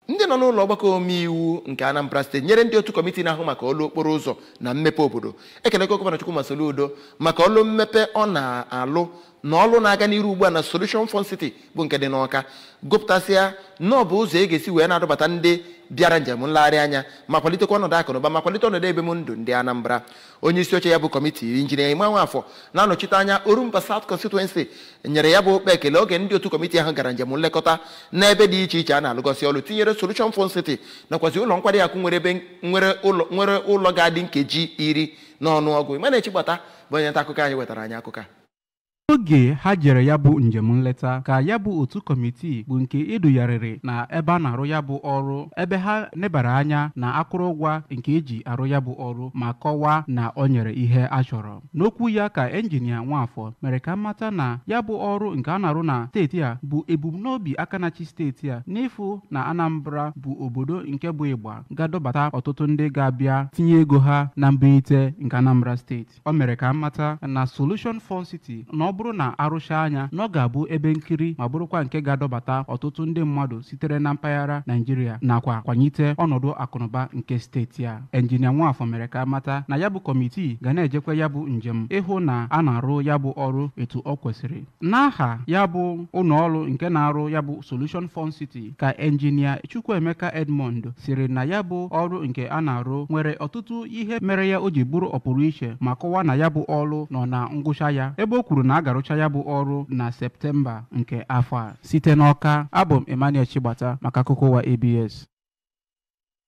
ndị nọ n'ụlọ ọgbakọ omeiwu nke anambra steeti tinyere ndị otu kọmiti na-ahụ maka ọlụ okporo ụzọ na mmepe obodo ekelego gọvanọ chukwuma soludo maka ọlụ mmepe ọ na-alụ na ọlụ na-aga n'iru ugbu a na solution fun city bụ nke dị n'ọka gụpụtasịa na ọ bụ ụzọ e ga-esi wee na-adọbata ndị bịara njem nlegharị anya ma kwalitekwa ọnọdụ akụnụba ma kwalite ọnọdụ ebim ndụ ndị anambra onye isi oche ya bụ kọmitii injinia Emma Nwafọ na-anọchite anya Orumba South Constituency nyere ya bụ ụkpa ekele oge ndị otu kọmitii ahụ gara njem nlekọta n'ebe dị iche iche a na-alụgasị ọrụ tinyere Solution Fun City nakwazi ụlọ nkwari akụ nwere ebe nwere ụlọ ga-adị nkeji iri n'ọnụọgụ Emmanuel Chigbata bụ onye nta akụkọ anyị wetara anyị akụkọ a Oge ha jere ya bụ njem nleta ka ya bụ otu kọmitii bụ nke e dugharịrị na ebe a na-arụ ya bụ ọrụ ebe ha nebara anya na akụrụngwa nke e ji arụ ya bụ ọrụ ma kọwaa na o nyere ihe a chọrọ. N'okwu ya ka enjinia Nwafọ mere ka a mata na ya bụ ọrụ nke a na-arụ na steeti a bụ ebumnobi aka na-achị steeti a n'ịfụ na Anambra bụ obodo nke bụ ịgba ga-adọbata ọtụtụ ndị ga-abịa tinye ego ha na mbunite nke Anambra steeti. O mere ka a mata na Solution Fun City na ọ bụrụ na a rụchaa ya na ọ ga-abụ ebe nkiri ma bụrụkwa nke ga-adọbata ọtụtụ ndị mmadụ sitere na mpaghara Naijiria nakwa kwanyite ọnọdụ akụnụba nke steeti a. Engineer Nwafọ mere ka a mata na ya bụ kọmitii ga na-ejekwa ya bụ njem ịhụ na a na-arụ ya bụ ọrụ etu o kwesịrị. N'aha ya bụ ụlọọrụ nke na-arụ ya bụ Solution Fun City ka enjinia Chukwuemeka Edmond sịrị na ya bụ ọrụ nke a na-arụ nwere ọtụtụ ihe mere ya o ji bụrụ ọpụrụ iche ma kọwaa na ya bụ ọrụ nọ na ngwụcha ya ebe o kwuru na a ga-arụcha ya bụ ọrụ na Septemba nke afọ a site n'Ọka abụ m Emmanuel Chigbata maka akụkọ ụwa ABS